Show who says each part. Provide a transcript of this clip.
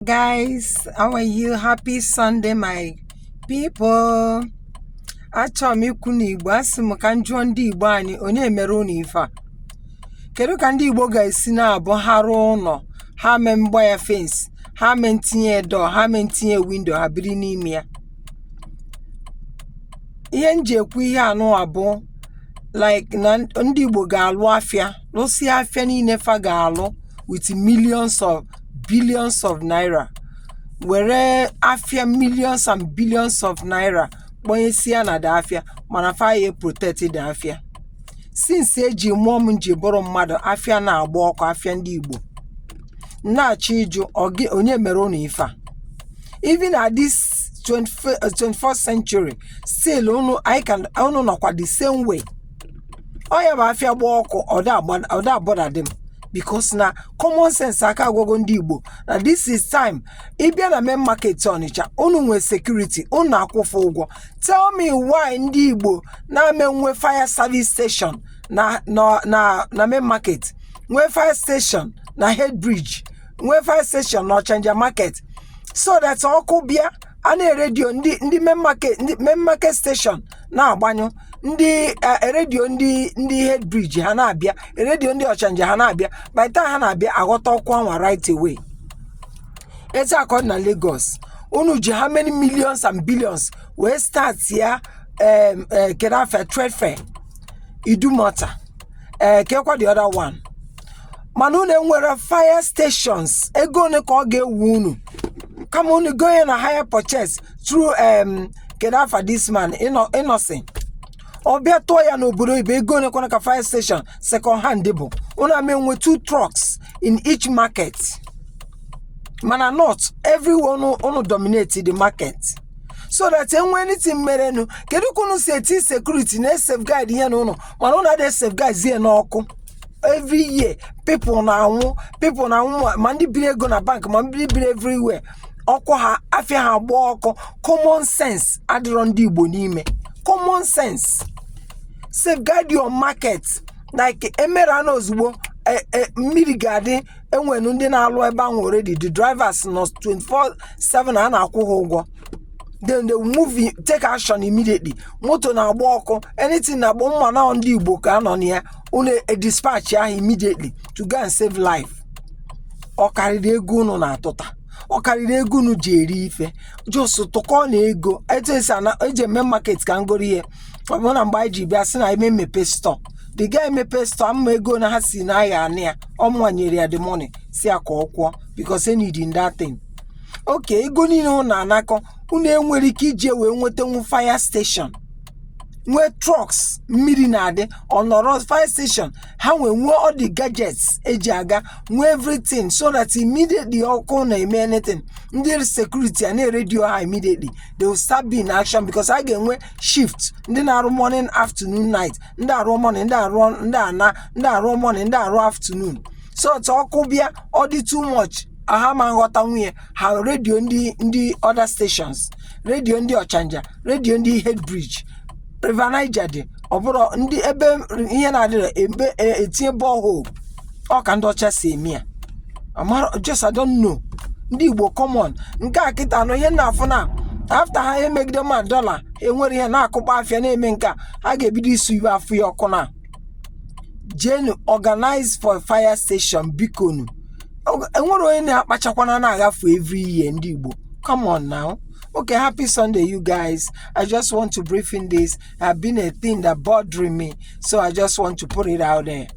Speaker 1: guys how are you happy sunday my people achọrọ m ikwu na igbo asị m ka m jụọ ndị igbo anyị onye mere unu ife a kedu ka ndị igbo ga-esi na-abụ ha rụọ ụnọ ha mee mgba ya fence ha mee ntinye door ha mee ntinye window ha biri n'ime ya ihe m ji ekwu ihe anụa bụ like na ndị igbo ga-alụ afịa lụsịa afịa niile fa ga-alụ with millions of billions of naira were afịa millions and billions of naira kpọnyesia na the afịa mana fa ya protect the afịa since eji mụọ m m ji bụrụ mmadụ afịa na-agba ọkụ afịa ndị Igbo m na-achọ ịjụ ọ gị- onye mere unu ife a even at this 21st century still unu anyị ka unu nọkwa the same way ọ ya-abụ afịa gba ọkụ ọ da a-bother dị m because na common sense aka agwago ndị igbo na this is time ị bịa na main market ọnịcha unu nwee security unu na-akwụ fa ụgwọ tell me why ndị igbo na-ama enwe fire service station na na na na main market nwee fire station na head bridge nwee fire station na ọchanja market so that ọkụ bịa a na-e-radio ndị ndị main market ndị main market station na-agbanyụ ndị eh, radio ndị ndị head bridge ha na-abịa e-radio ndị ọchanja ha na-abịa by the time ha na-abịa aghọta ọkụ anwa right away etu a ka ọ dị na lagos unu ji how many millions and billions wee start ya em, eh, kedu afa trade fair idumota ee kekwa the other one mana unu enwere fire stations ego one ka ọ ga-ewu unu kama unu gonye na hire purchase through um, kedu afa this man Inno- innoson ọ bịa tụọ ya n'obodo oyibo ego one kwanụ ka fire station second hand bụ unu ama enwe two trucks in each market ma na north everywhere unu dominate the market so that enwe anything merenụ kedu ka unu si eti security na safeguard ihe unu mana unu ada safeguard zie n'ọkụ every year people na-anwụ people na-anwụ ma- ma ndị biri ego na bank ma ndị biri everywhere ọkụ afịa ha agbaa ọkụ common sense adịrọ ndị igbo n'ime common sense safeguard your market like emere anụ ozugbo eh, eh, mmiri ga-adị enwere ndị na-alụ ebe anwa already the drivers nọ 24/7 a na-akwụ ha ụgwọ then they will move in, take action immediately moto na-agba ọkụ anything na-agba ma na ndị igbo ka a nọ na ya unu dispatch ahụ immediately to go and save life ọ karịrị ego unu na-atụta ọ karịrị ego unu ji eri ife just tụkọ na ego etu esi ana eji eme market ka ngoro ihe ọ bụrụ na mgbe anyị ji bịa sị na eme mmepe store the guy mepee store ama ego na ha si na ya anị ya ọ mụnwa nyere ya the money sị ya ka ọ kwụọ because e needi that thing okay ego niile unu na-anakọ unu enwere ike iji wee nwetanwu fire station nwee trucks mmiri na-adị ọ nọrọ fire station ha nwee nwee all the gadgets eji aga nwee everything so that immediately ọkụ na-eme anything ndị security a na-eredio ha immediately they will start being in action because a ga-enwe shift ndị na-arụ morning afternoon night ndị arụ morning ndị arụ ndị ana ndị arụ morning ndị arụ afternoon so that ọkụ bịa ọ dị too much ha ama aghọtanwu ya ha redio ndị ndị other stations redio ndị ọchanja redio ndị head bridge river niger dị ọ bụrụ ndị ebe ihe na-adịrọ ebe e- etinye borehole ọ ka ndị ọcha si eme ya amara just I don't know ndị igbo come on nke a kịta anụ ihe na-afụ na after ha emegide ma dọla enwere ihe na-akụkpọ afịa na-eme nke a a ga-ebido isu ibe afụ ya ọkụ na jenu organize for fire station bikonu Ọ- enwere onye na-akpachakwana na-agafe every year ndị igbo come on now okay happy sunday you guys i just want to brief in this it's been a thing that bothering me so i just want to put it out there